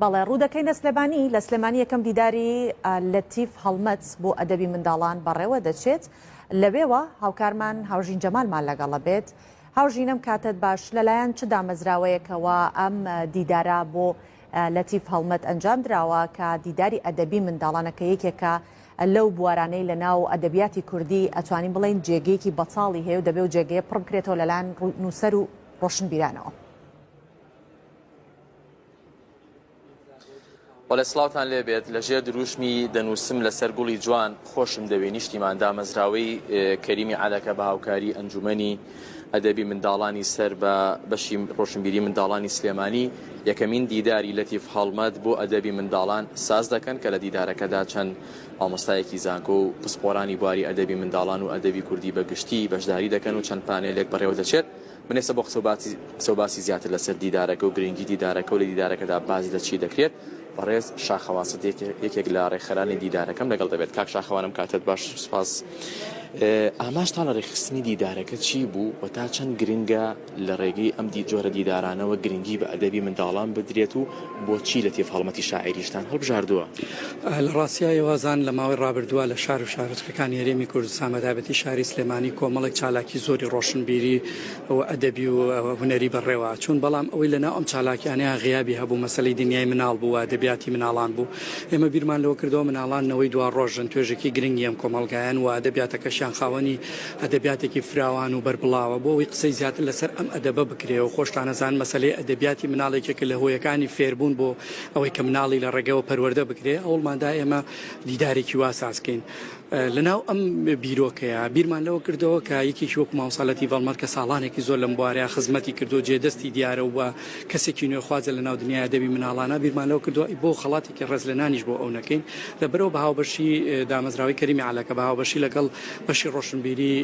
بەڵێ ڕوودەکەینە سلێمانی لە سلێمانی یەکەم دیداری لەتیف هەڵمەت بۆ ئەدەبی منداڵان بەڕێوە دەچێت لەوێوە هاوکارمان هاوژین جەمالمان لەگەڵە بێت هاوژینم کاتت باش لەلایەن چ دامەزراوەیەکەوە ئەم دیدارە بۆ لەتیف هەڵمەت ئەنجام دراوە کە دیداری ئەدەبی منداڵانەکە یەکێکە لەو بوارانەی لە ناو ئەدەبیاتی کوردی ئەتوانین بڵین جێگەیەکی بەتاڵی هەیە و دەبێ و جێگەیە پڕ بکرێتەوە لەلاەن نووسەر و ڕۆشنبیرانەوە. بەڵێ سڵاوان لێ بێت لە ژێر دروشمی دەنووسم لەسەر گوڵی جوان خۆشم دەوێ نیشتیمان دامەزراوەی کەریمی عادەکە بە هاوکاری ئەنجومنی ئەدەبی منداڵانی سەر بە بەشی ڕۆشنبیری منداڵانی سلێمانی یەکەمین دیداری لەتیف هەڵمەت بۆ ئەدەبی منداڵان ساز دەکەن کە لە دیدارەکەدا چەند ئامۆستایەکی زانکۆ و پسپۆرانی بواری ئەدەبی منداڵان و ئەدەبی کوردی بەگشتی بەشداری دەکەن و چەند پانێلێک بەڕێوە دەچێت من ئێستا بۆ قسەو باسی قسەو باسی زیاتر لەسەر دیدارەکە و گرنگی دیدارەکە و لە دیدارەکەدا باس لە چی دەکرێت بەڕێز شاخەوان سدیق یەکێک لە ڕێکخەرانی دیدارەکەم لەگەڵ دەبێت کاک شاخەوانم کاتت باش سوپاس ئاماژتان لە ڕێکخستنی دیدارەکە چی بوو و تا چەند گرنگە لە ڕێگەی ئەم دی جۆرە دیدارانەوە گرنگی بە ئەدەبی منداڵان بدرێت و بۆچی لەتیف هەڵمەتی شاعیریشتان هەڵبژاردووە؟ لە ڕاستیا ئێوازان لە ماوەی ڕابردووە لە شار و شارۆچکەکانی هەرێمی کوردستان بە تایبەتی شاری سلێمانی کۆمەڵێک چالاکی زۆری ڕۆشنبیری و ئەدەبی و هونەری بەڕێوە چوون بەڵام ئەوەی لەناو ئەم چالاکیانەیان غیابی هەبوو مەسەلەی دنیای مناڵ بوو و ئەدەبیاتی مناڵان بوو ئێمە بیرمان لەوە کردەوە مناڵان نەوەی دواڕۆژن توێژێکی گرنگی ئەم کۆمەڵگایەن و ئەدەبیاتەکەشیان خاوەنی ئەدەبیاتێکی فراوان و بەربڵاوە، بۆ ئەوەی قسەی زیاتر لەسەر ئەم ئەدەبە بکرێ و خۆشتانەزان مەسەلەی ئەدەبیاتی مناڵ یەکێکە لە هۆیەکانی فێربوون بۆ ئەوەی کە مناڵی لە ڕێگەوە پەروەردە بکرێ، هەوڵمان دا ئێمە دیدارێکی وا ساز کەین. لە ناو ئەم بیرۆکەیە بیرمان لەوە کردەوە کە یەکێکی وەکو مامۆستا لەتیف ئەڵمەر کە ساڵانێکی زۆر لەم بوارەیە خزمەتی کردووە جێ دەستی دیارە و کەسێکی نوێخوازە لە ناو دنیای ئەدەبی مناڵانە، بیرمان لەوە کردووە ئەی بۆ خەڵاتی ڕێز لە نانیش بۆ ئەو نەکەین. لەبەرئەوە بە هاوبەشی دامەزراوەی کەریمی عەلەکە بە هاوبەشی لەگەڵ بەشی ڕۆشنبیری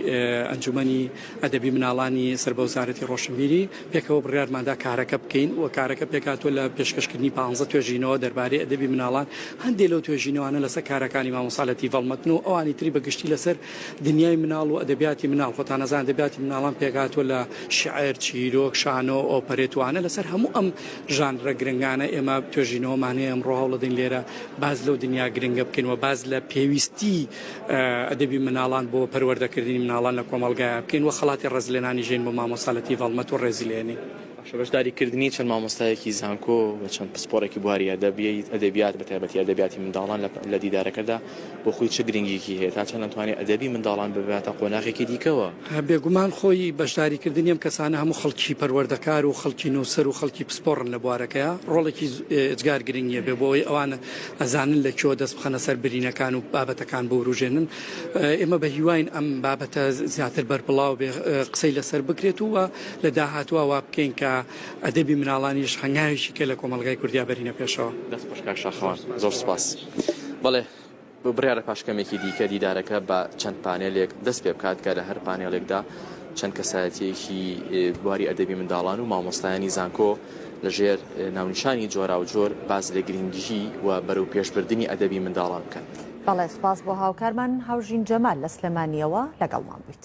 ئەنجومەنی ئەدەبی مناڵانی سەر بە وەزارەتی ڕۆشنبیری پێکەوە بڕیارماندا کارەکە بکەین و کارەکە پێکهاتووە لە پێشکەشکردنی پانزە توێژینەوە دەربارەی ئەدەبی مناڵان هەندێ لەو توێژینەوانە لەسەر کارەکانی مامۆستا لەتیف هەڵمەتن و ئەوانی تری بە گشتی لەسەر دنیای مناڵ و ئەدەبیاتی مناڵ خۆتان ئەزانن ئەدەبیاتی مناڵان پێکهاتووە لە شیعر، چیرۆک، شانۆ، ئۆپەرێت وانە لەسەر هەموو ئەم ژانرە گرنگانە ئێمە توێژینەوەمان هەیە ئەمڕۆ هەوڵەدەین لێرە باز لەو دنیا گرنگە بکەین و باز لە پێویستی ئەدەبی مناڵان بۆ پەروەردەکردنی مناڵان لە کۆمەڵگایە بکەین و خەڵاتی ڕێزلێنانی ژین بۆ مامۆستا لەتیف هەڵمەت و ڕێزیلێنین. بەشداریکردنی چەند مامۆستایەکی زانکۆ و چەند پسپۆڕێکی بواری ئەدەبیات بەتایبەتی ئەدەبیاتی منداڵان لە دیدارەکەدا بۆ خۆی چ گرنگیەکی هەیە تا چەند ئەتوانێت ئەدەبی منداڵان بباتە قۆناخێکی دیکەوە. بێگومان خۆی بەشداریکردنی ئەم کەسانە هەموو خەڵکی پەروەردەکار و خەڵکی نووسەر و خەڵکی پسپۆڕن لە بوارەکەیا ڕۆڵێکی ئێجگار گرنگ نیە بێ بۆی ئەوان ئەزانن لە کوێوە دەست بخەنە سەر برینەکان و بابەتەکان بوروژێنن ئێمە بە هیواین ئەم بابەتە زیاتر بەربڵاو بێ قسەی لەسەر بکرێت و لە داهاتوە وا بکەین کە ئەدەبی مناڵانیش هەنگاوێکی کە لە کۆمەڵگای کوردیا بەرینە پێشەوە. دەست خۆش کاک شاخەوان زۆر سوپاس. بەڵێ بڕیارە پاش کەمێکی دیکە دیدارەکە بە چەند پانێلێک دەست پێ بکات کە لە هەر پانێڵێکدا چەند کەسایەتیەکی بواری ئەدەبی منداڵان و مامۆستایانی زانکۆ لەژێر ناونیشانی جۆرا و جۆر باز لە گرنگیژی و بەرەو پێشبردننی ئەدەبی منداڵان بکەن. بەڵێ سپاس بۆ هاوکارمان هاوژین جەمال لە سلێمانیەوە لەگەڵمان بوویت.